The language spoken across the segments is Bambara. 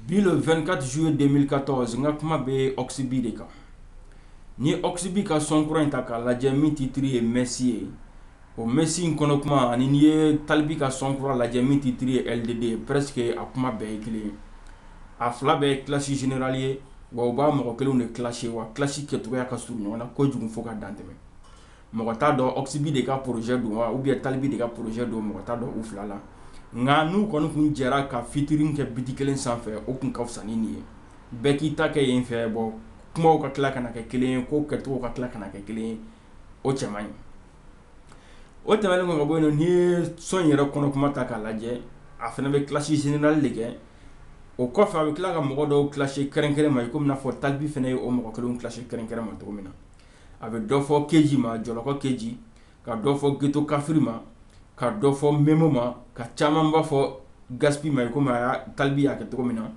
Bi le 24 juillet 2014 n ka kuma bɛ Oxibi de kan. N'i ye Oxibi ka son kura in ta k'a lajɛ min titre ye Messi ye, o Messi in kɔnɔ kuma ani n'i ye Talibi ka son kura lajɛ min titre ye LDD ye presque a kuma bɛɛ ye kelen ye. A fila bɛɛ ye clash général ye wa u b'a mɔgɔ kelenw de clasher. Wa clash kɛcogoya ka surun ɲɔgɔn na kojugun fo ka dan tɛmɛ. mɔgɔ t'a dɔn oxibi de ka projet don wa ou bien talibi de ka projet don mɔgɔ t'a dɔn u fila la nka n'u kɔni tun jɛra ka featuring kɛ biti kelen sanfɛ o tun ka fisa ni nin ye bɛɛ k'i ta kɛ yen fɛ bon kuma ka tila ka kɛ kelen ye ko kɛcogo ka tila ka kɛ kelen ye o cɛ man ɲi o tɛmɛnen kɔ ka bɔ yen n'i ye son yɛrɛ kɔnɔ kuma ta k'a lajɛ a fana bɛ clash général de kɛ o kɔfɛ a bɛ tila ka mɔgɔ dɔw clash kɛrɛnkɛrɛn ma i ko n'a fɔ talibi fana ye o mɔgɔ kelenw clash kɛrɛnkɛrɛn ma cogo min na a bɛ dɔ fɔ keji ma jɔlɔkɔ keji ka dɔ fɔ geto kafiri ma ka dɔ fɔ memo ma ka caman b'a fɔ gaspi ma i kɔmi a talibi y'a kɛ cogo min na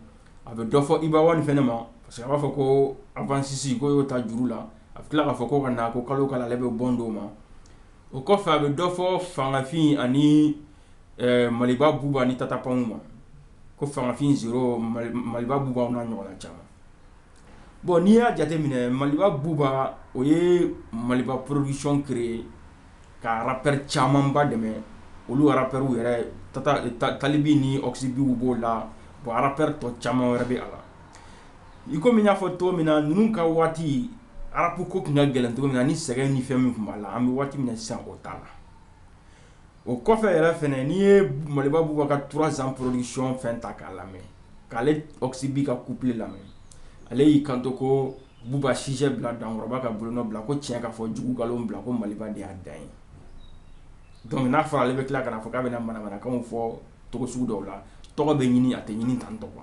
a bɛ dɔ fɔ iba one fana ma parce que a b'a fɔ ko anfasisi ko y'o ta juru la a bɛ tila k'a fɔ ko ka na ko kalo ka ale bɛ bɔn d'o ma o kɔfɛ a bɛ dɔ fɔ fangafin ani maliba buba ni tata pound ma ko fangafin maliba buba n'a ɲɔgɔnna caman bɔn n'i y'a jateminɛ maliba buba o ye maliba production créer ka rappeur camanba dɛmɛ olu rappeurw yɛrɛ talibi ni oxibiw b'o la bon rappeur tɔ caman wɛrɛ bɛ a la i kɔmi n y'a fɔ cogo min na ninnu ka waati rap ko tun ka gɛlɛn cogo min na ni sɛgɛn ni fɛn min tun b'a la an bɛ waati min na sisan o t'a la o kɔfɛ yɛrɛ fɛnɛ n'i ye maliba buba ka 3 ans production fɛn ta k'a lamɛn k'ale oxibi ka couplet lamɛn ale y'i kanto ko buba sujet bila dankɔrɔba ka bolonɔ bila ko tiɲɛ ka fɔ jugu nkalon bila ko maliba de y'a dan ye donc n'a fɔra ale bɛ tila ka na fɔ k'a bɛna manamanakan fɔ cogo sugu dɔw la tɔgɔ bɛ ɲini a tɛ ɲini tan tɔgɔ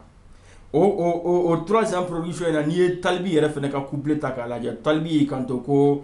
o 3 ans production in na n'i ye talibi yɛrɛ fana ka couplet ta k'a lajɛ talibi y'i kanto ko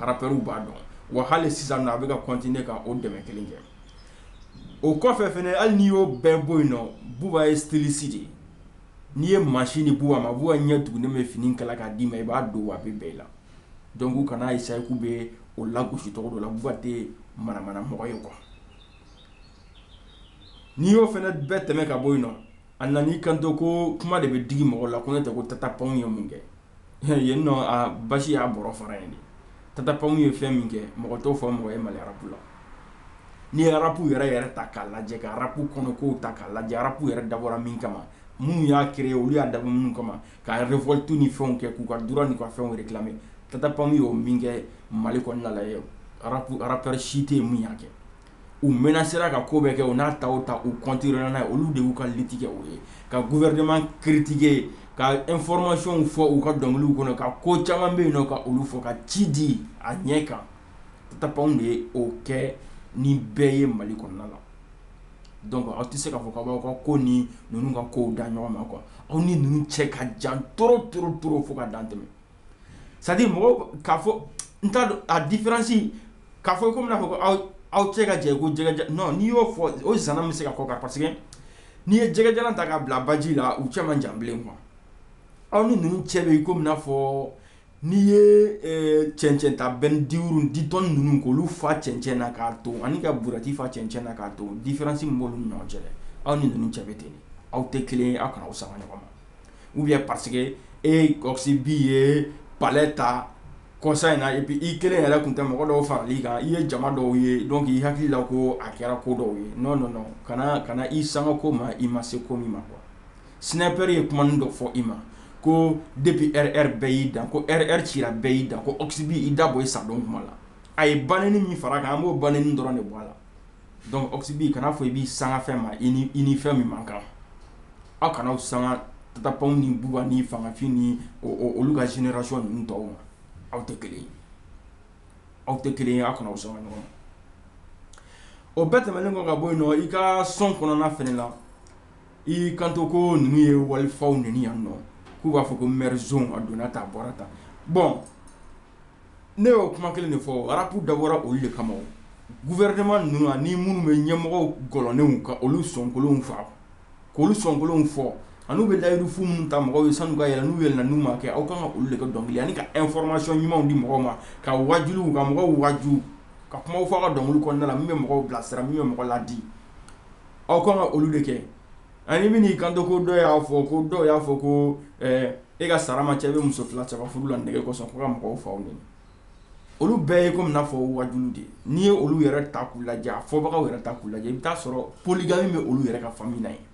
rappeurw b'a dɔn wa hali sisan a bɛ ka continuer ka o dɛmɛ kelen kɛ o kɔfɛ fɛnɛ hali n'i y'o bɛɛ bɔ yen nɔ buba ye styliste de ye n'i ye masini di buba ma buba ɲɛ tugunnen bɛ fini kala k'a d'i ma i b'a don a bɛ bɛɛ la donc u kana essayer k'u bɛ o lagosi cogo dɔ la buba tɛ manamana mɔgɔ ye quoi n'i y'o fana bɛɛ tɛmɛ ka bɔ yen nɔ a nan'i kanto ko kuma de bɛ digi mɔgɔ la ko ne tɛ ko tata pound ye mun kɛ yen nɔ a basi y'a bɔrɔ fara yen de tata pound ye fɛn min kɛ mɔgɔ t'o fɔ mɔgɔ ye mali rap la n'i ye rap yɛrɛ yɛrɛ ta k'a lajɛ ka rap kɔnɔ ko ta k'a lajɛ rap yɛrɛ dabɔra min kama minnu y'a créer olu y'a dabɔ minnu kama ka révolte ni fɛnw kɛ k'u ka droit ni ka fɛnw réclamer tata pound y'o min kɛ mali kɔnɔna la ye rap rappeur si tɛ yen min y'a kɛ u menasera ka ko bɛɛ kɛ u n'a ta o ta u kɔntinyera n'a ye olu de y'u ka liti kɛ o ye ka gɔfɛrɛnaman kiritike ka ɛnfɔrimasiyɔnw fɔ u ka dɔnkiliw kɔnɔ ka ko caman bɛ yen nɔ ka olu fɔ ka ci di a ɲɛ kan Tata Pound de ye o kɛ ni bɛɛ ye mali kɔnɔna la dɔnku aw tɛ se k'a fɔ k'aw b'aw ka ko ni ninnu ka kow da ɲɔgɔn ma kuwa aw ni ninnu cɛ ka jan trop trop trop fo ka dan tɛmɛ c'est à dire mɔgɔw k'a fɔ n t'a dɔn a difiransi k'a fɔ komi n'a fɔ aw aw cɛ ka jan ko jɛgɛja n'i y'o fɔ o zana bɛ se ka kɔ kan parce que n'i ye jɛgɛjalan ta k'a bila baji la u cɛ man jan bilen kuwa aw ni ninnu cɛ bɛ komi n'a fɔ n'i ye cɛncɛn ta bɛni dix tonnes ninnu k'olu fa cɛncɛn na k'a ton ani ka buruwɛti fa cɛncɛn na k'a ton difiransi min b'olu ni ɲɔgɔn cɛ aw ni ninnu cɛ bɛ ten aw tɛ kelen aw kana aw sanga ɲɔgɔn ma ou bien parce que Oxy B ye palɛ ta kɔsa in na et puis i kelen yɛrɛ tun tɛ mɔgɔ dɔw farala i kan i ye jama dɔw ye dɔnku i hakili la ko a kɛra ko dɔw ye nɔn nɔn nɔn kana i sanga ko ma i ma se ko min ma kuwa Snipa ye kumanin dɔ fɔ i ma ko depuis RR bɛɛ y'i dan ko RR cira bɛɛ y'i dan ko Oxy B i da bɔ i sadon kuma la a ye baneni min fara kan an b'o baneni dɔrɔn de bɔ a la Dɔnku Oxy B kana a fɔ i b'i sanga fɛn ma i ni fɛn min man kan aw kana aw sanga Tata Pound ni Buba ni Fangafin ni olu ka zenerasiyɔn ninnu tɔw ma aw tɛ kelen aw tɛ kelen aw kana aw sanga ɲɔgɔn ma o bɛɛ tɛmɛnen kɔ ka bɔ yen nɔ i ka sɔn kɔnɔna fɛnɛ la i kanto ko ninnu ye walifaw neni yan nɔ k'u b'a fɔ ko mɛri zoni a donna ta a bɔra ta bɔn Ne y'o kuma kelen de fɔ arapu dabɔra olu de kama gɔfɛrɛnaman ninnu ani minnu bɛ ɲɛmɔgɔ kolonw ka olu sonkolon fa k'olu sonkolon fɔ an'u bɛ layidu fu minnu ta mɔgɔw ye sani u ka yɛlɛn n'u yɛlɛnna n'u ma kɛ aw kan ka olu de kɛ dɔnkili ye ani ka ɛnfɔrimasiyɔn ɲumanw di mɔgɔw ma ka wajuliw ka mɔgɔw waju ka kuma fɔ a ka dɔnkili kɔnɔna na min bɛ mɔgɔw bilasira min bɛ mɔgɔ ladi aw kan ka olu de kɛ Ani min y'i kanto ko dɔ y'a fɔ ko dɔw y'a fɔ ko e ka sara man ca i bɛ muso fila saba furu la nege kɔsɔn ko ka mɔgɔw faw neni olu bɛɛ ye komi n'a fɔ waju de n'i ye olu yɛrɛ ta k'u lajɛ a fɔbagaw yɛrɛ ta k'u lajɛ i bɛ taa sɔrɔ poligami bɛ olu yɛrɛ ka famiyi na yen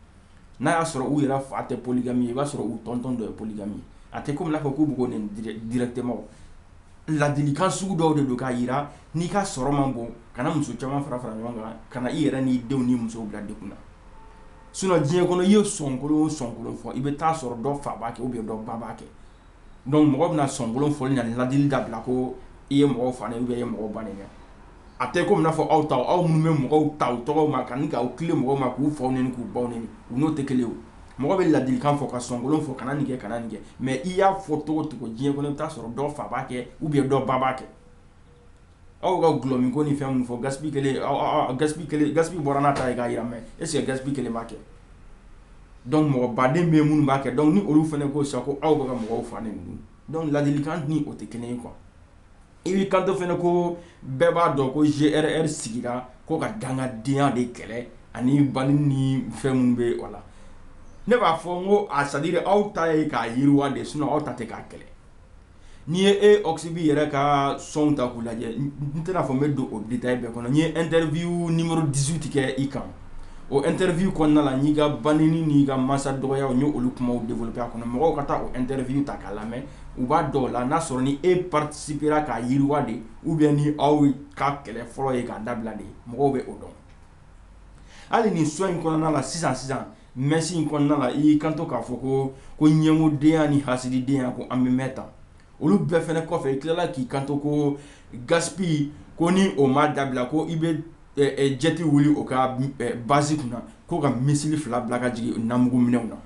n'a y'a sɔrɔ u yɛrɛ fa tɛ poligami ye i b'a sɔrɔ u tɔntɔn dɔ ye poligami ye a tɛ komi n'a fɔ k'u bɛ k'o neni dirɛkitiman ladilikan sugu dɔw de don k'a jira n'i ka sɔrɔ man bon kana muso caman fara fara ɲɔgɔn kan kana i yɛrɛ n'i denw ni musow bila degun na sinɔn diɲɛ kɔnɔ i ye sonkolon o sonkolon fɔ i bɛ taa sɔrɔ dɔ fa b'a kɛ ou bien dɔ ba b'a kɛ dɔnku mɔgɔ bɛna sonkolon fɔli ani ladili dabila ko i ye mɔgɔ fa neni ou bien i ye mɔgɔ ba neni a tɛ komi n'a fɔ aw ta aw minnu bɛ mɔgɔw ta u tɔgɔ ma ani k'aw tilen mɔgɔw ma k'u faw nɛni k'u baw nɛni u n'o tɛ kelen ye mɔgɔ bɛ ladilikan fɔ ka sɔnkolon fɔ kana nin kɛ kana nin kɛ mais i y'a fɔ cogo o cogo diɲɛ kɔnɔ i bɛ t'a sɔrɔ dɔ fa b'a kɛ ou bien dɔ ba b'a kɛ aw ka gulɔ min ko ni fɛn min fɔ Gaspi bɔra n'a ta ye k'a yira mais est ce que Gaspi kelen b'a kɛ donc mɔgɔ baden bɛ minnu b'a kɛ donc ni olu fana ko sa ko aw bɛ ka mɔgɔw fa nɛni donc ladilikan ni o tɛ kelen ye quoi I b'i kanto fana ko bɛɛ b'a dɔn ko GRR sigira ko ka dangadenya de kɛlɛ ani banni ni fɛn minnu bɛ o la, ne b'a fɔ n ko a c'est à dire aw ta ye k'a yiriwa de ye sinon aw ta tɛ k'a kɛlɛ, n'i ye e Oxy B yɛrɛ ka sɔnw ta k'u lajɛ n tɛna fɔ n bɛ don o détail bɛɛ kɔnɔ n ye interview numéro 18 kɛ i kan, o interview kɔnɔna na n y'i ka banni n'i ka mansa dɔgɔyaw n y'olu kumaw développer a kɔnɔ mɔgɔw ka taa o interview ta k'a lamɛn u b'a dɔn o la n'a sɔrɔ ni e participera k'a yiriwa de ou bien ni aw ka kɛlɛ fɔlɔ ye k'a dabila de mɔgɔw bɛ o dɔn hali ni sɔn in kɔnɔna la sisan sisan mɛsi in kɔnɔna la i y'i kanto k'a fɔ ko ɲɛngodenya ni hasididenya ko an bɛ mɛn ta olu bɛɛ fana kɔfɛ i tilala k'i kanto ko Gaspi ko ni o ma dabila ko i bɛ jet wuli o ka base kunna ko ka missile fila bila ka jigin namugu minɛnw na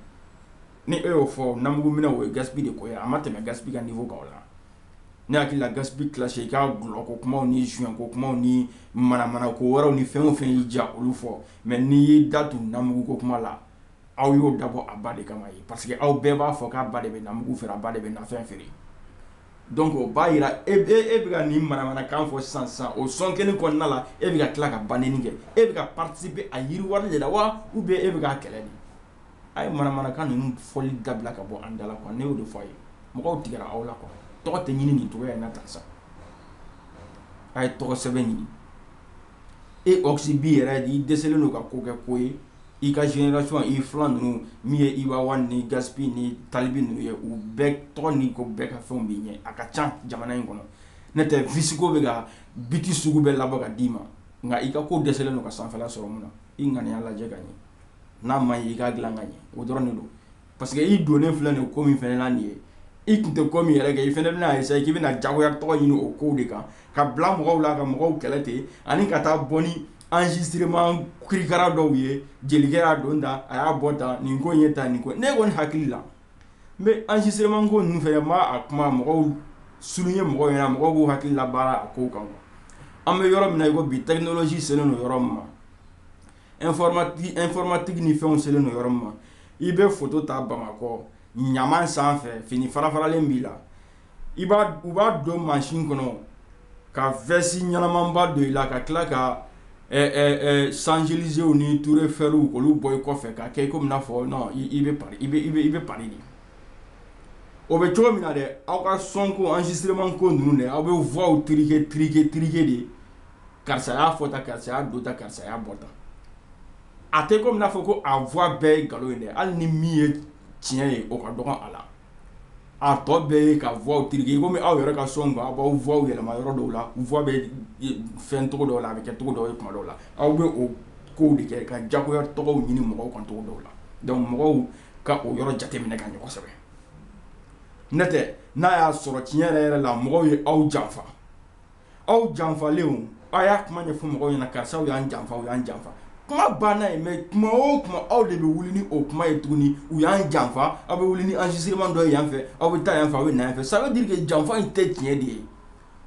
ni e y'o fɔ namugu minɛnw o ye Gaspi de ko ye a ma tɛmɛ Gaspi ka niveau kan o la ne hakili la Gaspi clash i k'a gulɔ ko kuma ni joint ko kuma ni manamana ko wɛrɛw ni fɛn o fɛn y'i diya olu fɔ mais n'i y'i da tu namugu ko kuma la aw y'o dabɔ a ba de kama ye parce que aw bɛɛ b'a fɔ k'a ba de bɛ namugu feere a ba de bɛ nafɛn feere donc o b'a yira e e bɛ ka nin manamanakan fɔ sisan o sɔn kelen kɔnɔna la e bɛ ka tila ka banni kɛ e bɛ ka participer a yiriwali de la wa ou bien e bɛ k'a kɛlɛ de a ye manamanakan ninnu fɔli dabila ka bɔ an da la quoi ne y'o de fɔ a ye mɔgɔw tigɛra aw la quoi tɔgɔ tɛ ɲini nin cogoya in na tan sa a ye tɔgɔ sɛbɛ ɲini e Oxy B yɛrɛ i dɛsɛlen don ka ko kɛ ko ye i ka génération i filan ninnu min ye Iba One ni Gaspi ni Tal B ninnu ye u bɛɛ tɔgɔ ni ko bɛɛ ka fɛnw b'i ɲɛ a ka ca jamana in kɔnɔ n'o tɛ Visko bɛ ka beat sugu bɛɛ labɔ ka d'i ma nka i ka ko dɛsɛlen don ka sanfɛla sɔrɔ mun na i ŋaniya lajɛ ka ɲɛ n'a man ɲi i k'a dilan ka ɲɛ o dɔrɔn de don parce que i donnen filɛ nin ko min fana na nin ye i tun tɛ ko min yɛrɛ kɛ i fana bɛna essayer k'i bɛna jagoya tɔgɔ ɲini o kow de kan ka bila mɔgɔw la ka mɔgɔw kɛlɛ ten ani ka taa bɔ ni enregistrement kirikara dɔw ye jelikɛ y'a don tan a y'a bɔ tan nin ko in ye tan nin ko ne kɔni hakili la n bɛ enregistrement ko ninnu fana n b'a a kuma mɔgɔw souligner mɔgɔw ɲɛna mɔgɔw k'u hakili labaara a kow kan quoi an bɛ yɔrɔ min na i ko bi technologie selen don yɔrɔ min ma informatique ni fɛnw selen don yɔrɔ min ma i bɛ photo ta bamakɔ ɲaman sanfɛ fini farafaralen b'i la u b'a don mansin kɔnɔ ka veste ɲɛnamanba don i la ka tila ka champs-élysées ni tour eiffelw olu bɔ i kɔfɛ ka kɛ komi n'a fɔ non i bɛ paris de o bɛ cogo min na dɛ aw ka son ko enregistrement ko ninnu dɛ aw bɛ voixw truquer truquer truquer de karisa y'a fɔ tan karisa y'a don tan karisa y'a bɔ tan a tɛ komi n'a fɔ ko a voix bɛɛ ye nkalon ye dɛ hali ni min ye tiɲɛ ye o ka dɔgɔ a la a tɔ bɛɛ ye ka voixw truquer komi aw yɛrɛ ka son kan aw b'aw voix yɛlɛma yɔrɔ dɔw la voix bɛ fɛn cogo dɔw la a bɛ kɛ cogo dɔw ye tuma dɔw la aw bɛ o kow de kɛ ka jagoya tɔgɔw ɲini mɔgɔw kan cogo dɔw la donc mɔgɔw ka o yɔrɔ jateminɛ ka ɲɛ kosɛbɛ n'o tɛ n'a y'a sɔrɔ tiɲɛ yɛrɛ yɛrɛ la mɔgɔw ye aw janfa aw janfalenw a y'a kuma ɲɛfɔ mɔgɔw ɲɛna karisaw y'an janfa aw y'an janfa kuma banna yen mais kuma o kuma aw de bɛ wuli ni o kuma ye tuguni u y'an janfa aw bɛ wuli ni enregistrement dɔ ye yan fɛ aw bɛ taa yan fɛ aw bɛ na yan fɛ ça veut dire que janfa in tɛ tiɲɛ de ye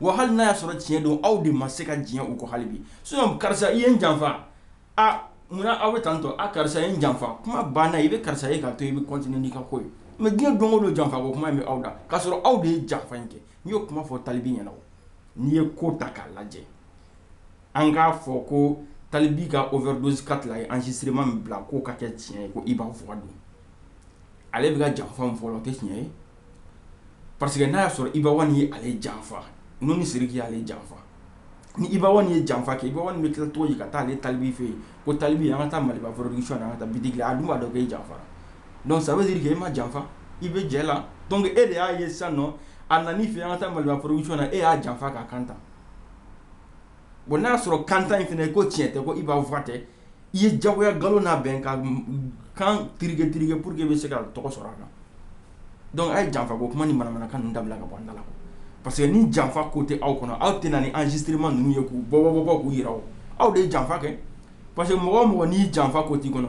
wa hali n'a y'a sɔrɔ tiɲɛ don aw de ma se ka diɲɛ u kɔ hali bi sinon karisa i ye n janfa aa munna aw bɛ tan to a karisa ye n janfa kuma banna i bɛ karisa ye k'a to i bɛ continuer n'i ka ko ye mais diɲɛ don o don janfa ko kuma bɛ aw da k'a sɔrɔ aw de ye janfa in kɛ n'i y'o kuma fɔ talibi ɲɛna n'i ye ko ta k'a lajɛ an k'a fɔ ko talibi ka overdose quatre la ye enregistrement min bila k'o ka kɛ tiɲɛ ye ko iba fɔkan don ale bɛ ka janfa min fɔ o tɛ tiɲɛ ye parce que n'a y'a sɔrɔ iba one ye ale janfa n'o ni siriki y'ale janfa ni i baw ye janfa kɛ i bɛ ki tɔgɔ ye ka taa ni talibi fɛ yen ko talibi an ka taa mali fɔlɔsɔn an ka taa bi a dun b'a dɔn e janfa dɔnku sabuluri e ma janfa i bɛ jɛ la dɔnkuke e de y'a ye sa nɔ a nan fɛ an ka taa mali fɔlɔsɔn na e y'a janfa ka kan bon n'a y'a sɔrɔ kantan in fana ye ko tiɲɛ tɛ ko i b'a faa tɛ i ye jagoya nkalon labɛn ka kan truquer truquer pour que i bɛ se ka tɔgɔ sɔrɔ a kan donc a ye janfa ko kuma ni manamanakan dabila ka bɔ an da la parce que ni janfa ko tɛ aw kɔnɔ aw tɛ na ni enregistrement ninnu ye k'u bɔ bɔ k'u jira aw de ye janfa kɛ parce que mɔgɔ o mɔgɔ ni janfa ko t'i kɔnɔ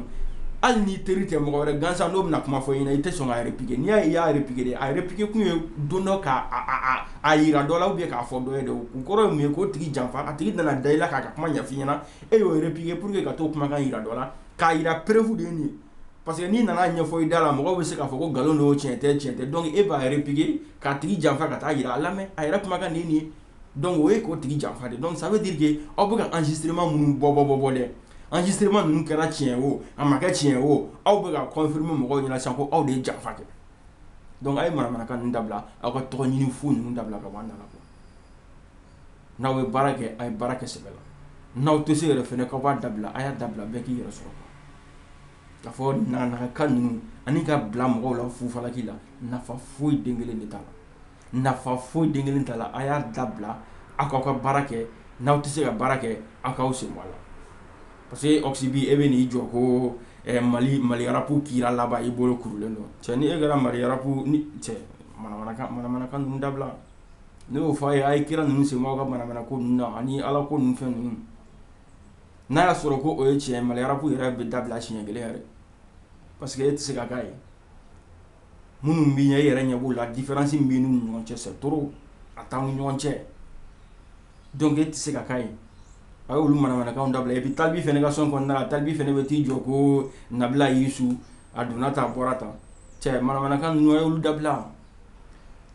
hali n'i teri tɛ mɔgɔ wɛrɛ gansan n'o bɛna kuma fɔ i ɲɛna i tɛ sɔn k'a repiquer n'i y'a ye i y'a repiquer a repiquer kun ye don dɔ k'a jira dɔ la ou bien k'a fɔ dɔ ye de o kɔrɔ ye mun ye k'o tigi janfa a tigi nana da i la k'a ka kuma ɲɛf'i ɲɛna e y'o repiquer pour que ka t'o kumakan jira dɔ la k'a jira preuve de ye nin ye parce que n'i nana ɲɛfɔ i da la mɔgɔ bɛ se k'a fɔ ko nkalon don tiɲɛ tɛ tiɲɛ tɛ donc e b'a repiquer k'a tigi janfa ka taa jira a lamɛn a yɛrɛ kumakan de ye nin ye donc o ye k'o tigi janfa de donc ça veut dire que aw bɛ ka enregistrement minnu bɔ bɔ bɔ bɔ dɛ enregistrement ninnu kɛra tiɲɛ o a ma kɛ tiɲɛ o aw bɛ ka confirmer mɔgɔw ɲɛna sa ko aw de ye janfa kɛ donc a ye manamanakan dabila aw ka tɔgɔ ɲini fu ninnu dabila ka bɔ an da la n'aw ye baara kɛ a ye baara kɛ sɛbɛ la n'aw tɛ se yɛrɛ fɛnɛ k'aw b'a dabila a y'a dabila bɛɛ k'i yɛrɛ sɔrɔ k'a fɔ naganakan ninnu ani ka bila mɔgɔw la fufalaki la nafa foyi den kelen de t'a la nafa foyi den kelen t'a la a y'a dabila aw k'aw ka baara kɛ n'aw tɛ se ka baara kɛ aw k'aw sen bɔ a la parce que Oxy B e bɛ n'i jɔ ko Mali Mali rapu kira laban i bolo kurulen don cɛ ni e kɛra Mali rapu cɛ manamanakan ninnu dabila ne y'o fɔ a ye a ye kira ninnu sen bɔ aw ka manamanako ninnu na ani Ala ko ninnu fɛn ninnu n'a y'a sɔrɔ ko o ye tiɲɛ ye Mali rapu yɛrɛ bɛ dabila siɲɛ kelen yɛrɛ parce que e tɛ se ka k'a ye minnu b'i ɲɛ e yɛrɛ ɲɛ b'u la différence min b'i n'u ni ɲɔgɔn cɛ c'est trop a t'aw ni ɲɔgɔn cɛ donc e tɛ se ka k'a ye a y'olu manamanakanw dabila et puis Tal B fana ka sɔn kɔnɔna na Tal B fana bɛ t'i jɔ ko Nabila Yisu a donna tan a bɔra tan cɛ manamanakan ninnu a y'olu dabila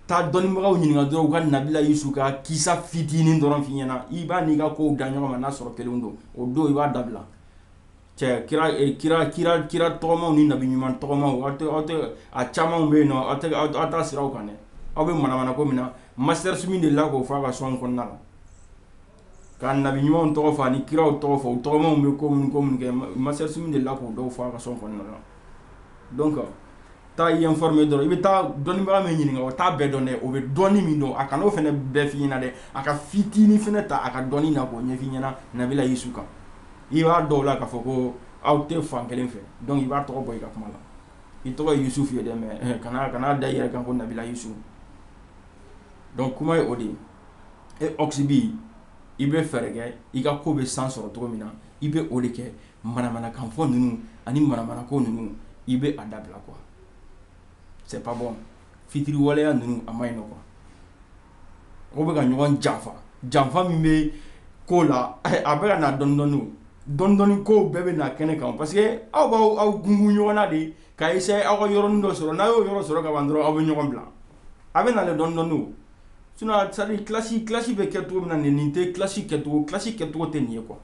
taa dɔnnibagaw ɲininka dɔrɔn u ka Nabila Yisu ka kisa fitinin dɔrɔn f'i ɲɛna i b'a n'i ka kow da ɲɔgɔn ma n'a sɔrɔ kelen don o don i b'a dabila cɛ kira eh, kira kira kira tɔgɔmaw ni nabi ɲuman tɔgɔmaw aw tɛ aw tɛ a camanw bɛ yen nɔ aw tɛ aw aw t'a siraw kan dɛ aw bɛ manamanako min na Master Soumy delila k'o fɔ a ka sɔn kɔnɔna la Ka nabi ɲumanw tɔgɔ fɔ ani kiraw tɔgɔ fɔ u tɔgɔmaw bɛ ko minnu ko minnu kɛ Master Soumy delila k'o dɔw fɔ a ka sɔn kɔnɔna na donc taa i informer dɔrɔn i bɛ taa dɔnnibaa min ɲininka o t'a bɛɛ dɔn dɛ o bɛ dɔnni min dɔn a kan'o fana bɛɛ f'i ɲɛna dɛ a ka fitinin fana ta a ka dɔnni na k'o ɲɛf'i ɲɛna Nabila Yisu kan i b'a dɔn o la k'a fɔ ko aw tɛ fan kelen fɛ donc i b'a tɔgɔ bɔ i ka kuma la i tɔgɔ ye Yusufu ye dɛ kana kan'a da i yɛrɛ kan ko Nabila Yisu donc kuma ye o de ye Oxy B i bɛ fɛɛrɛ kɛ i ka ko bɛ san sɔrɔ cogo min na i bɛ o de kɛ manamanakan fɔ ninnu ani manamanako ninnu i bɛ a dabila quoi c'est pas bon fitiri waleya ninnu a ma ɲi nɔ quoi o bɛka ka ɲɔgɔn janfa janfa min bɛ ko la a bɛka na dɔɔnin dɔɔnin ko bɛɛ bɛ na kɛnɛ kan parce que aw b'aw aw gungun ɲɔgɔn na de ka essayer aw ka yɔrɔnin dɔ sɔrɔ n'a y'o yɔrɔ sɔrɔ ka ban dɔrɔn aw bɛ ɲɔgɔn bila a bɛ na dɔɔnin dɔɔnin clash clash bɛ kɛ cogo min na nin nin tɛ clash kɛcogo clash kɛcogo tɛ nin ye quoi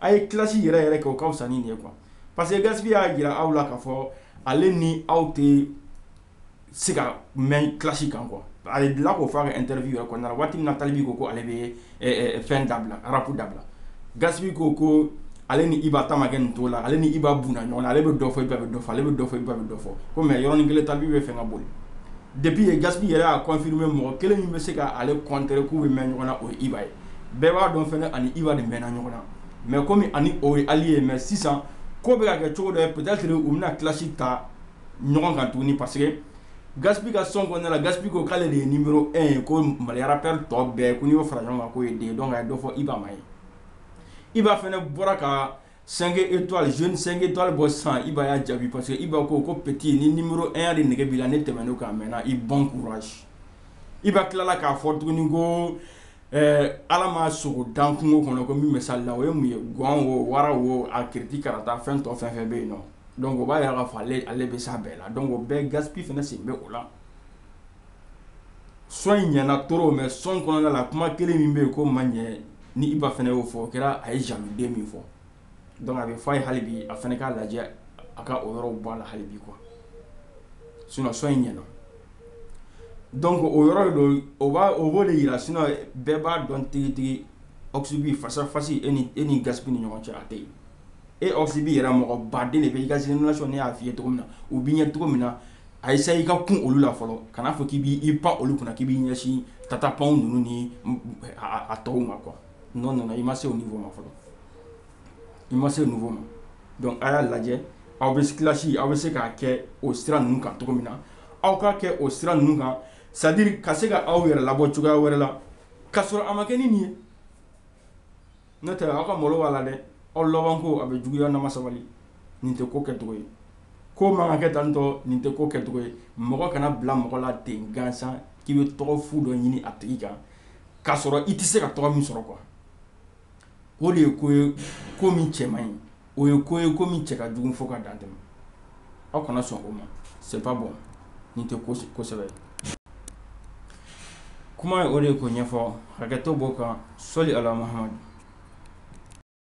a ye clash yɛrɛ yɛrɛ kɛ o ka fisa ni nin ye quoi parce que Gaspi y'a jira aw la k'a fɔ ale ni aw tɛ se ka mɛn clash kan quoi a delila k'o fɔ a ka interview yɛrɛ kɔnɔna na waati min na Tal B ko ko ale bɛ ye fɛn dabila rapu dabila Gaspi ko ko ale ni Iba ta ma kɛ nin cogo la ale ni Iba mɛnna ɲɔgɔn na ale bɛ dɔ fɔ Iba bɛ dɔ fɔ ale bɛ dɔ fɔ Iba bɛ dɔ fɔ ko mais yɔrɔnin kelen Tal B bɛ fɛn ka boli depuis Gaspi yɛrɛ y'a confirmer mɔgɔ kelen min bɛ se k'ale contrer k'u bɛ mɛn ɲɔgɔn na o ye Iba ye bɛɛ b'a dɔn fana a ni Iba de mɛnna ɲɔgɔn na mais comme a ni o ye allié mais sisan ko bɛ ka kɛ cogo dɔ ye peut-être u bɛna clash ta ɲɔgɔn kan tuguni parce que Gaspi ka son kɔnɔna la Gaspi ko k'ale de ye numéro 1 ye ko Mali rappeur tɔ bɛɛ ko n'i y'o fara ɲɔgɔn kan k'o ye den ye donc a ye dɔ fɔ Iba ma yen Iba fana bɔra ka 5 étoiles jeune 5 étoiles bɔ sisan Iba y'a jaabi parce que Iba ko ko petit ni numéro 1 ya de nege b'i la ne tɛmɛn'o kan a mɛnna i bon courage Iba tilala k'a fɔ tuguni ko Ɛɛ Ala ma sogo dan kungo kɔnɔ ko min bɛ s'a la o ye mun ye gɔn wo wara wo a kiriti karata fɛn tɔ fɛn fɛn bɛ yen donc o b'a jira k'a fɔ ale bɛ s'a bɛɛ la donc o bɛɛ Gaspi fana sen bɛ o la son in ɲɛna trop mais son kɔnɔna la kuma kelen min bɛ yen k'o ma ɲɛ ni Iba fana y'o fɔ o kɛra a ye jamu de min fɔ donc a bɛ fɔ a ye halibi a fana k'a lajɛ a ka o yɔrɔ bɔ a la halibi quoi sinon son in ɲɛna donc o yɔrɔ don o b' o b'o de jira sinon bɛɛ b'a dɔn tigitigi Oxy B face à face e ni e ni Gaspi ni ɲɔgɔn cɛ a tɛ yen e Oxy B yɛrɛ mɔgɔ baden de bɛ i ka z sɔn ne y'a fɔ i ye cogo min na o bɛ ɲɛ cogo min na essayer i ka kun olu la fɔlɔ kana fɔ k'i b'i pan olu kunna k'i b'i ɲɛsin Tata Pound ninnu ni a tɔw ma quoi non non i ma se o niveau ma fɔlɔ i ma se o niveau ma donc a y'a lajɛ aw bɛ clash aw bɛ se k'a kɛ o sira ninnu kan cogo min na aw k'a kɛ o sira ninnu kan c'est-à-dire ka se ka aw yɛrɛ labɔ cogoya wɛrɛ la ka sɔrɔ a ma kɛ nin ye ne taara aw ka malo b'a la dɛ o laban ko a bɛ juguya n'aw ma sabali nin tɛ ko kɛ cogo ye ko man kan ka kɛ tan cogo nin tɛ ko kɛ cogo ye mɔgɔ kana bila mɔgɔ la ten gansan k'i bɛ tɔgɔ fu dɔ ɲini a tigi kan k'a sɔrɔ i tɛ se ka tɔgɔ min sɔrɔ quoi o de ye ko ye ko min cɛ man ɲi, o ye ko ye ko min cɛ ka jugu fo ka dan tɛmɛ, aw kana sɔn o ma c'est pas bon nin tɛ ko sɛbɛ ye, kuma ye o de ye k'o ɲɛfɔ hakɛto b'o kan sɔli Ala Mahamadu